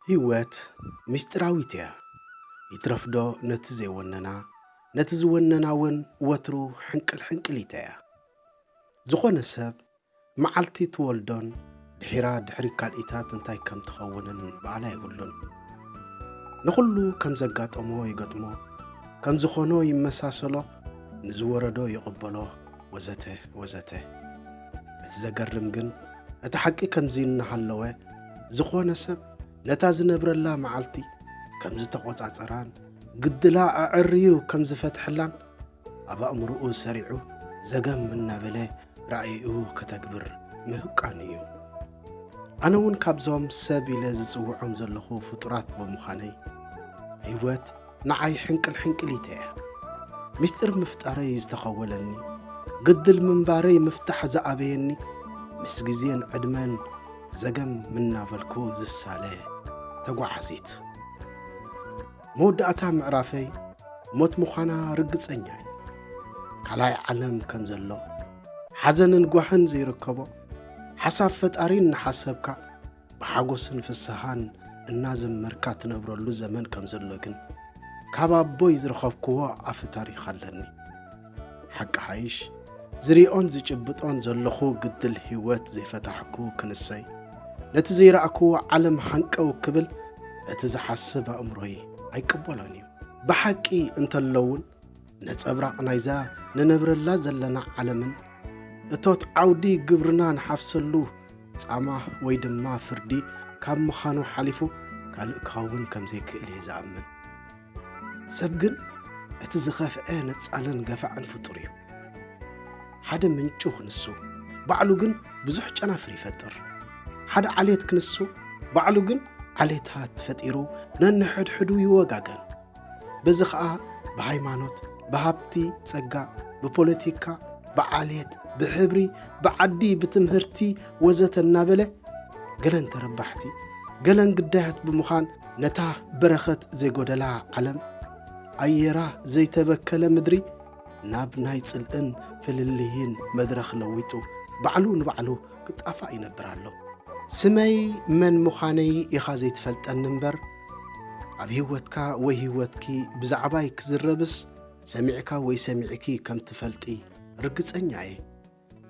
ህይወት ምስጢራዊት እያ። ይትረፍዶ ነቲ ዘይወነና፣ ነቲ ዝወነና እውን ወትሩ ሕንቅልሕንቅሊት እያ። ዝኾነ ሰብ መዓልቲ ትወልዶን ድሒራ ድሕሪ ካልኢታት እንታይ ከም ትኸውንን በዓል ኣይብሉን። ንኹሉ ከም ዘጋጠሞ ይገጥሞ፣ ከም ዝኾኖ ይመሳሰሎ፣ ንዝወረዶ ይቕበሎ ወዘተ ወዘተ። እቲ ዘገርም ግን እቲ ሓቂ ከምዚ እናሃለወ ዝኾነ ሰብ ነታ ዝነብረላ መዓልቲ ከም ዝተቖጻጸራን ግድላ ኣዐርዩ ከም ዝፈትሐላን ኣብ ኣእምሮኡ ሰሪዑ ዘገም እናበለ ራእይኡ ከተግብር ምህቃኑ እዩ ኣነ እውን ካብዞም ሰብ ኢለ ዝጽውዖም ዘለኹ ፍጡራት ብምዃነይ ህይወት ንዓይ ሕንቅል ሕንቅሊት እያ። ምስጢር ምፍጣረይ ዝተኸወለኒ፣ ግድል ምንባረይ ምፍታሕ ዝኣበየኒ፣ ምስ ግዜን ዕድመን ዘገም እናበልኩ ዝሳለ ተጓዓዚት። መወዳእታ ምዕራፈይ ሞት ምዃና ርግጸኛ እየ። ካልኣይ ዓለም ከም ዘሎ፣ ሓዘንን ጓህን ዘይርከቦ፣ ሓሳብ ፈጣሪ እናሓሰብካ ብሓጎስን ፍስሃን እናዘመርካ ትነብረሉ ዘመን ከም ዘሎ ግን ካብ ኣቦይ ዝረኸብክዎ ኣፈ ታሪኽ ኣለኒ ሓቂ ሓይሽ ዝሪኦን ዝጭብጦን ዘለኹ ግድል ህይወት ዘይፈታሕኩ ክንሰይ ነቲ ዘይረእክዎ ዓለም ሃንቀው ክብል እቲ ዝሓስብ ኣእምሮይ ኣይቅበሎን እዩ ብሓቂ እንተለውን ነጸብራቕ ናይዛ ንነብረላ ዘለና ዓለምን እቶት ዓውዲ ግብርና ንሓፍሰሉ ጻማ ወይ ድማ ፍርዲ ካብ ምዃኑ ሓሊፉ ካልእ ክኸውን ከም ዘይክእል እየ ዝኣምን ሰብ ግን እቲ ዝኸፍዐ ነጻልን ገፋዕን ፍጡር እዩ ሓደ ምንጩ ክንሱ ባዕሉ ግን ብዙሕ ጨናፍር ይፈጥር ሓደ ዓሌት ክንሱ ባዕሉ ግን ዓሌታት ፈጢሩ ነንሕድሕዱ ይወጋገን በዚ ኸኣ ብሃይማኖት፣ ብሃብቲ ጸጋ፣ ብፖለቲካ፣ ብዓሌት፣ ብሕብሪ፣ ብዓዲ፣ ብትምህርቲ ወዘተ እናበለ ገለን ተረባሕቲ ገለን ግዳያት ብምዃን ነታ በረኸት ዘይጎደላ ዓለም ኣየራ ዘይተበከለ ምድሪ ናብ ናይ ጽልእን ፍልልይን መድረኽ ለዊጡ ባዕሉ ንባዕሉ ክጣፋእ ይነብር ኣሎ። ስመይ መን ምዃነይ ኢኻ ዘይትፈልጠኒ እምበር ኣብ ህይወትካ ወይ ህይወትኪ ብዛዕባይ ክዝረብስ ሰሚዕካ ወይ ሰሚዕኪ ከም ትፈልጢ ርግጸኛ እየ።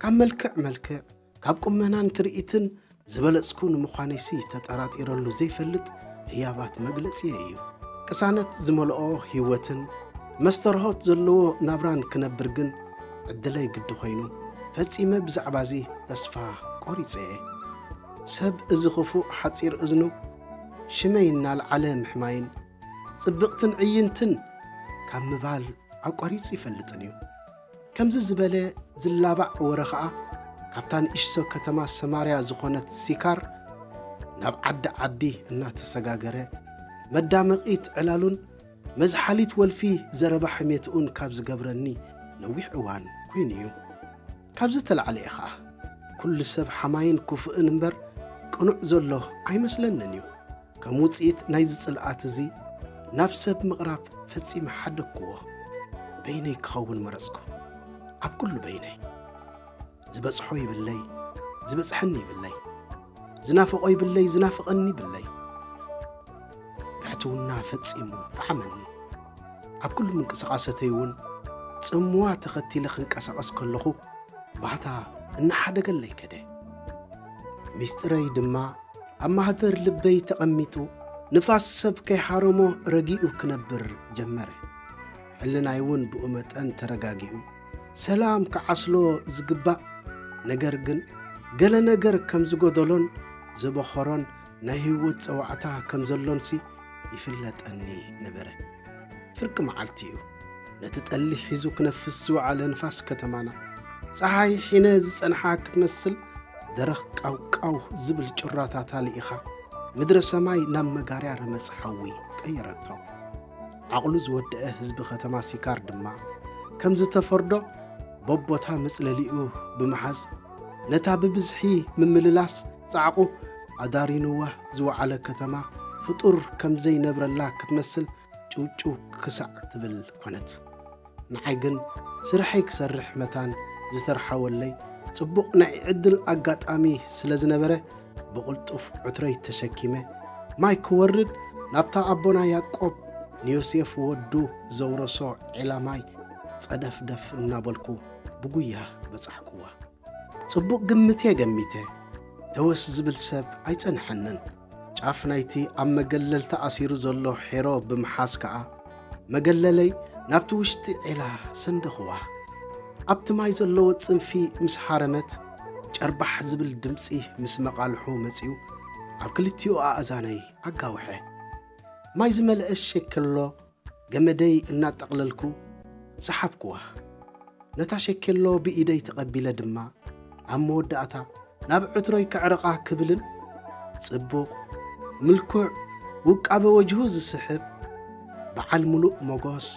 ካብ መልክዕ መልክዕ፣ ካብ ቁመናን ትርኢትን ዝበለጽኩ ንምዃነይሲ ተጠራጢረሉ ዘይፈልጥ ህያባት መግለጺየ እዩ። ቅሳነት ዝመልኦ ህይወትን መስተርሆት ዘለዎ ናብራን ክነብር ግን ዕድለይ ግዲ ኮይኑ ፈጺመ ብዛዕባዚ ተስፋ ቆሪጸ እየ። ሰብ እዚ ክፉእ ሓጺር እዝኑ ሽመይ እናልዓለ ምሕማይን ጽብቕትን ዕይንትን ካብ ምባል ኣቋሪጹ ይፈልጥን እዩ። ከምዚ ዝበለ ዝላባዕ ወረ ኸኣ ካብታ ንእሽቶ ከተማ ሰማርያ ዝኾነት ሲካር ናብ ዓዲ ዓዲ እናተሰጋገረ መዳመቒት ዕላሉን መዝሓሊት ወልፊ ዘረባ ሕሜትኡን ካብ ዝገብረኒ ነዊሕ እዋን ኮይኑ እዩ። ካብዚ ተላዕለ ኢኻ ኩሉ ሰብ ሓማይን ኩፉእን እምበር ቅኑዕ ዘሎ ኣይመስለንን እዩ። ከም ውጽኢት ናይዚ ጽልኣት እዚ ናብ ሰብ ምቕራብ ፈጺመ ሓደግኩዎ። በይነይ ክኸውን መረጽኩ። ኣብ ኩሉ በይነይ። ዝበጽሖ ይብለይ ዝበጽሐኒ ይብለይ። ዝናፈቖ ይብለይ ዝናፍቐኒ ይብለይ ብሕትውና ፈጺሙ ጠዓመኒ ኣብ ኩሉ ምንቅስቓሰተይ እውን ጽምዋ ተኸቲለ ክንቀሳቐስ ከለኹ ባህታ እናሓደገለይ ከደ ሚስጢረይ ድማ ኣብ ማህደር ልበይ ተቐሚጡ ንፋስ ሰብ ከይሓረሞ ረጊኡ ክነብር ጀመረ ሕልናይ እውን ብኡ መጠን ተረጋጊኡ ሰላም ክዓስሎ ዝግባእ ነገር ግን ገለ ነገር ከም ዝጎደሎን ዘበኸሮን ናይ ህይወት ጸዋዕታ ከም ዘሎንሲ ይፍለጠኒ ነበረ። ፍርቂ መዓልቲ እዩ። ነቲ ጠሊ ሒዙ ክነፍስ ዝወዓለ ንፋስ ከተማና ጸሓይ ሒነ ዝጸንሓ ክትመስል ደረኽ ቃውቃው ዝብል ጩራታታ ልኢኻ ምድረ ሰማይ ናብ መጋርያ ረመጽ ሓዊ ቀየረቶ። ዓቕሉ ዝወደኣ ህዝቢ ከተማ ሲካር ድማ ከም ዝተፈርዶ በቦታ መጽለሊኡ ብምሓዝ ነታ ብብዝሒ ምምልላስ ጻዕቑ ኣዳሪኑዋ ዝወዓለ ከተማ ፍጡር ከም ዘይነብረላ ክትመስል ጭውጭው ክሳዕ ትብል ኮነት። ንዓይ ግን ስርሐይ ክሰርሕ መታን ዝተርሓወለይ ጽቡቕ ናይ ዕድል ኣጋጣሚ ስለ ዝነበረ፣ ብቕልጡፍ ዕትረይ ተሸኪመ ማይ ክወርድ ናብታ ኣቦና ያቆብ ንዮሴፍ ወዱ ዘውረሶ ዒላ ማይ ጸደፍደፍ እናበልኩ ብጉያ በጻሕኩዋ። ጽቡቕ ግምት'የ ገሚተ፣ ተወስ ዝብል ሰብ ኣይጸንሐንን። ጫፍ ናይቲ ኣብ መገለል ተኣሲሩ ዘሎ ሒሮ ብምሓዝ ከኣ፣ መገለለይ ናብቲ ውሽጢ ዔላ ሰንደኹዋ። ኣብቲ ማይ ዘለዎ ጽንፊ ምስ ሃረመት፣ ጨርባሕ ዝብል ድምጺ ምስ መቓልሑ መጺኡ ኣብ ክልቲኡ ኣእዛነይ ኣጋውሐ። ማይ ዝመልአ ሸከሎ ገመደይ እናጠቕለልኩ ሰሓብኩዋ። ነታ ሸኬሎ ብኢደይ ተቐቢለ ድማ ኣብ መወዳእታ ናብ ዕትሮይ ከዕርቓ ክብልን ጽቡቕ፣ ምልኩዕ፣ ውቃበ ወጅሁ ዝስሕብ በዓል ምሉእ ሞጎስ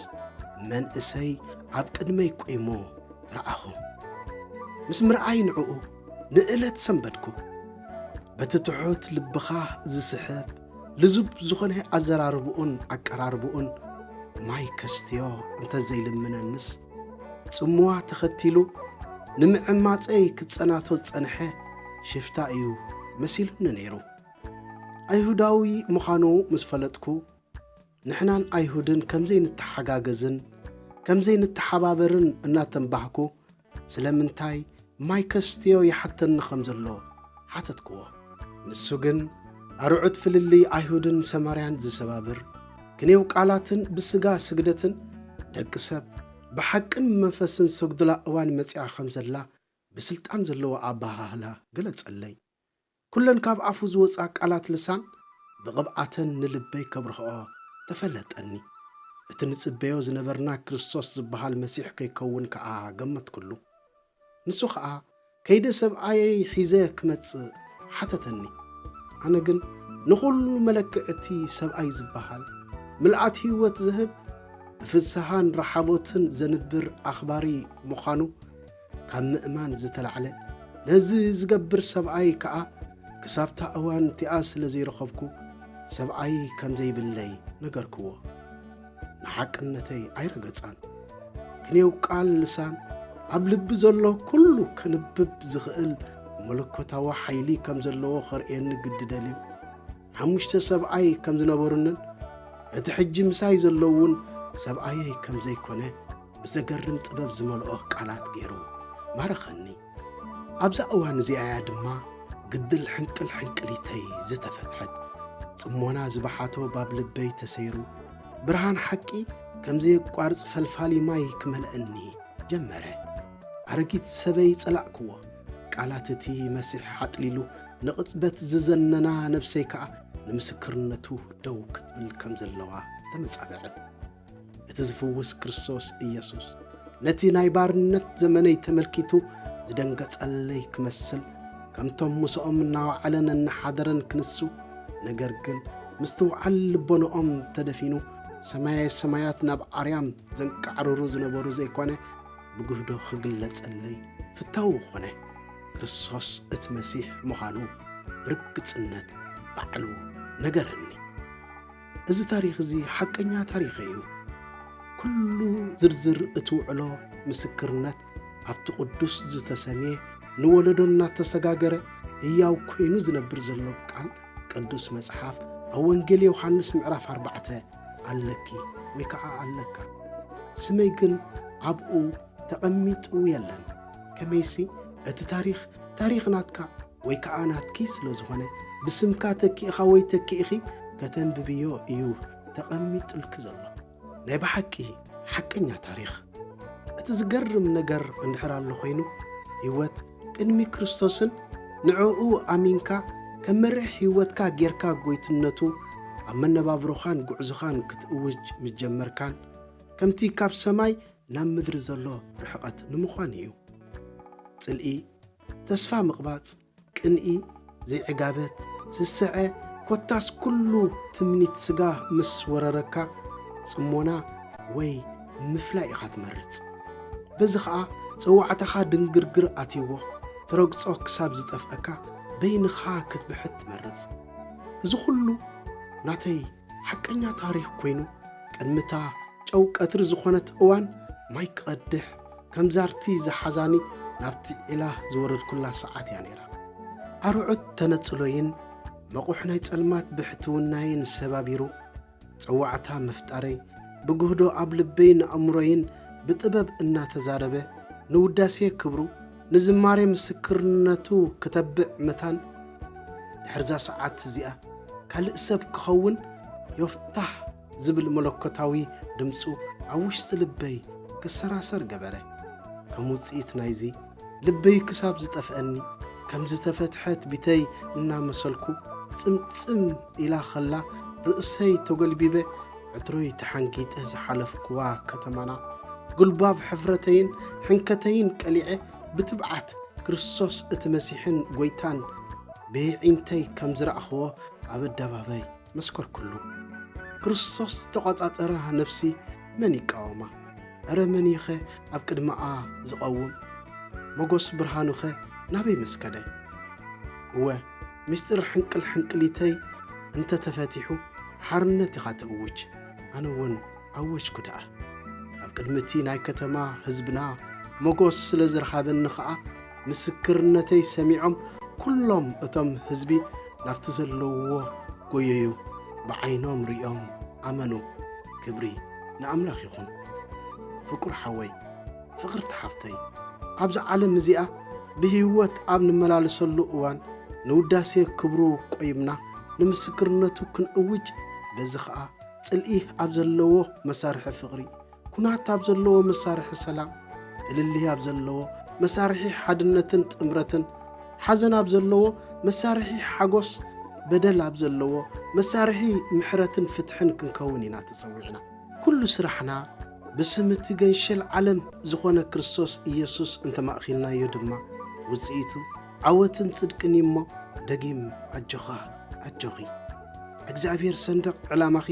መንእሰይ ኣብ ቅድመይ ቁይሙ ረኣኹ። ምስ ምርኣይ ንዕኡ ንእለት ሰንበድኩ። በቲ ትሑት ልብኻ ዝስሕብ ልዙብ ዝኾነ ኣዘራርብኡን ኣቀራርብኡን ማይ ከስትዮ እንተዘይልምነንስ ጽምዋ ተኸቲሉ ንምዕማጸይ ክጸናቶ ዝጸንሐ ሽፍታ እዩ መሲሉኒ ነይሩ። ኣይሁዳዊ ምዃኑ ምስ ፈለጥኩ ንሕናን ኣይሁድን ከም ዘይንተሓጋገዝን ከም ዘይንተሓባበርን እናተንባህኩ፣ ስለምንታይ ማይ ከስትዮ ይሓተኒ ኸም ዘሎ ሓተትክዎ። ንሱ ግን ኣርዑት ፍልልይ ኣይሁድን ሰማርያን ዚሰባብር ክንየው ቃላትን ብስጋ ስግደትን፣ ደቂ ሰብ ብሓቅን ብመንፈስን ዚሰግዱላ እዋን መጺኣ ኸም ዘላ ብስልጣን ዘለዎ ኣበሃህላ ገለጸለይ። ኵለን ካብ ኣፉ ዝወጻ ቃላት ልሳን ብቕብኣተን ንልበይ ከብርህኦ ተፈለጠኒ። እቲ ንጽበዮ ዝነበርና ክርስቶስ ዝበሃል መሲሕ ከይከውን ከኣ ገመትኩሉ። ንሱ ኸኣ ከይደ ሰብኣየይ ሒዘ ክመጽእ ሓተተኒ። ኣነ ግን ንዅሉ መለክዒ እቲ ሰብኣይ ዝበሃል፣ ምልኣት ህይወት ዝህብ፣ ብፍስሃን ራሓቦትን ዘንብር ኣኽባሪ ምዃኑ፣ ካብ ምእማን ዝተላዕለ ነዚ ዝገብር ሰብኣይ ከኣ ክሳብታ እዋን እቲኣ ስለ ዘይረኸብኩ ሰብኣይ ከም ዘይብለይ ነገርክዎ። ንሓቅነተይ ኣይረገጻን። ክንየው ቃል ልሳን ኣብ ልቢ ዘሎ ኩሉ ከንብብ ዝኽእል መለኮታዊ ሓይሊ ከም ዘለዎ ኸርእየኒ ግዲ ደልዩ ሓሙሽተ ሰብኣይ ከም ዝነበሩንን እቲ ሕጂ ምሳይ ዘለውን ሰብኣየይ ከም ዘይኮነ ብዘገርም ጥበብ ዝመልኦ ቃላት ገይሩ ማረኸኒ። ኣብዛ እዋን እዚኣ እያ ድማ ግድል ሕንቅል ሕንቅሊተይ ዝተፈትሐት። ጽሞና ዝበሓቶ ባብ ልበይ ተሰይሩ፣ ብርሃን ሓቂ ከም ዘየቋርጽ ፈልፋሊ ማይ ክመልእኒ ጀመረ። ኣረጊት ሰበይ ጸላእክዎ። ቃላት እቲ መሲሕ ሓጥሊሉ ንቕጽበት ዝዘነና ነብሰይ ከኣ ንምስክርነቱ ደው ክትብል ከም ዘለዋ ተመጻበዐት። እቲ ዝፍውስ ክርስቶስ ኢየሱስ ነቲ ናይ ባርነት ዘመነይ ተመልኪቱ ዝደንገጸለይ ክመስል ከምቶም ምስኦም እናወዓለን እናሓደረን ክንሱ ነገር ግን ምስትውዓል ልቦንኦም ተደፊኑ ሰማየ ሰማያት ናብ ኣርያም ዘንቃዕርሩ ዝነበሩ ዘይኮነ ብግህዶ ክግለጸለይ ፍታው ኾነ ክርስቶስ እቲ መሲሕ ምዃኑ ብርግጽነት ባዕሉ ነገረኒ እዚ ታሪኽ እዚ ሓቀኛ ታሪኽ እዩ። ኩሉ ዝርዝር እቲ ውዕሎ ምስክርነት ኣብቲ ቅዱስ ዝተሰምየ ንወለዶ እናተሰጋገረ ህያው ኮይኑ ዝነብር ዘሎ ቃል ቅዱስ መጽሓፍ ኣብ ወንጌል ዮሃንስ ምዕራፍ ኣርባዕተ ኣለኪ ወይ ከዓ ኣለካ ስመይ ግን ኣብኡ ተቐሚጡ የለን ከመይሲ እቲ ታሪኽ ታሪኽ ናትካ ወይ ከኣ ናትኪ ስለ ዝኾነ ብስምካ ተኪእኻ ወይ ተኪእኺ ከተንብብዮ እዩ ተቐሚጡልኪ ዘሎ። ናይ ብሓቂ ሓቀኛ ታሪኽ። እቲ ዝገርም ነገር እንድሕር ኣሎ ኮይኑ ህይወት ቅድሚ ክርስቶስን ንዕኡ ኣሚንካ ከም መርሕ ህይወትካ ጌርካ ጎይትነቱ ኣብ መነባብሮኻን ጉዕዞኻን ክትእውጅ ምጀመርካን ከምቲ ካብ ሰማይ ናብ ምድሪ ዘሎ ርሕቐት ንምዃን እዩ። ጽልኢ ተስፋ ምቕባጽ፣ ቅንኢ፣ ዘይዕጋበት፣ ስስዐ፣ ኮታስ ኩሉ ትምኒት ስጋ ምስ ወረረካ ጽሞና ወይ ምፍላይ ኢኻ ትመርጽ። በዚ ኸኣ ጸዋዕታኻ ድንግርግር ኣትይዎ ትረግጾ ክሳብ ዝጠፍኣካ በይንኻ ክትብሕት ትመርጽ። እዚ ኹሉ ናተይ ሓቀኛ ታሪኽ ኮይኑ ቅድሚታ ጨው ቀትሪ ዝኾነት እዋን ማይ ክቐድሕ ከም ዛርቲ ዝሓዛኒ ናብቲ ዒላ ዝወረድኩላ ሰዓት እያ ነይራ ኣርዑት ተነጽሎይን መቑሕ ናይ ጸልማት ብሕትውናይን ሰባቢሩ ጸዋዕታ ምፍጣረይ ብግህዶ ኣብ ልበይን ኣእምሮይን ብጥበብ እናተዛረበ ንውዳሴ ክብሩ ንዝማሬ ምስክርነቱ ክተብዕ መታን ድሕርዛ ሰዓት እዚኣ ካልእ ሰብ ክኸውን ዮፍታህ ዝብል መለኮታዊ ድምጹ ኣብ ውሽጢ ልበይ ክሰራሰር ገበረ። ከም ውጽኢት ናይዚ ልበይ ክሳብ ዝጠፍኣኒ ከም ዝተፈትሐት ቢተይ እናመሰልኩ ጽምጽም ኢላ ከላ ርእሰይ ተጎልቢበ ዕትሮይ ተሓንጊጠ ዝሓለፍኩዋ ከተማና ጉልባብ ሕፍረተይን ሕንከተይን ቀሊዐ ብትብዓት ክርስቶስ እቲ መሲሕን ጐይታን ብየዒንተይ ከም ዝረእኽዎ ኣብ ኣደባባይ መስከርኩሉ። ክርስቶስ ዝተቖጻጸራ ነፍሲ መን ይቃወማ? እረ መን እዩኸ ኣብ ቅድመኣ ዝቐውም? መጐስ ብርሃኑኸ ናበይ መስከደ? እወ ሚስጢር ሕንቅል ሕንቅሊተይ እንተ ተፈቲሑ ሓርነት ኢኻ ትእውጅ፣ ኣነ እውን ኣወጅኩ ደኣ። ኣብ ቅድሚ እቲ ናይ ከተማ ህዝብና ሞጎስ ስለ ዝረኻበኒ ኸኣ ምስክርነተይ ሰሚዖም ኩሎም እቶም ህዝቢ ናብቲ ዘለውዎ ጎየዩ፣ ብዓይኖም ርእዮም ኣመኑ። ክብሪ ንኣምላኽ ይኹን ፍቁር ሓወይ። ፍቕርቲ ሓፍተይ ኣብዛ ዓለም እዚኣ ብህይወት ኣብ ንመላለሰሉ እዋን ንውዳሴ ክብሩ ቆይምና ንምስክርነቱ ክንእውጅ በዚ ኸኣ ጽልኢ ኣብ ዘለዎ መሳርሒ ፍቕሪ ኩናት ኣብ ዘለዎ መሳርሒ ሰላም ፍልልይ ኣብ ዘለዎ መሳርሒ ሓድነትን ጥምረትን ሓዘን ኣብ ዘለዎ መሳርሒ ሓጎስ በደል ኣብ ዘለዎ መሳርሒ ምሕረትን ፍትሕን ክንከውን ኢና ተጸዊዕና ኩሉ ስራሕና ብስም እቲ ገንሸል ዓለም ዝኾነ ክርስቶስ ኢየሱስ እንተማእኪልናዮ ድማ ውጽኢቱ ዓወትን ጽድቅን እዩ እሞ ደጊም ኣጆኻ ኣጆኺ እግዚኣብሔር ሰንደቕ ዕላማኺ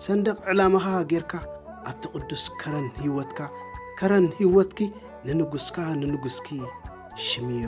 ሰንደቕ ዕላማኻ ጌርካ ኣብቲ ቅዱስ ከረን ህይወትካ ከረን ህይወትኪ ንንጉስካ ንንጉስኪ ሽምዮ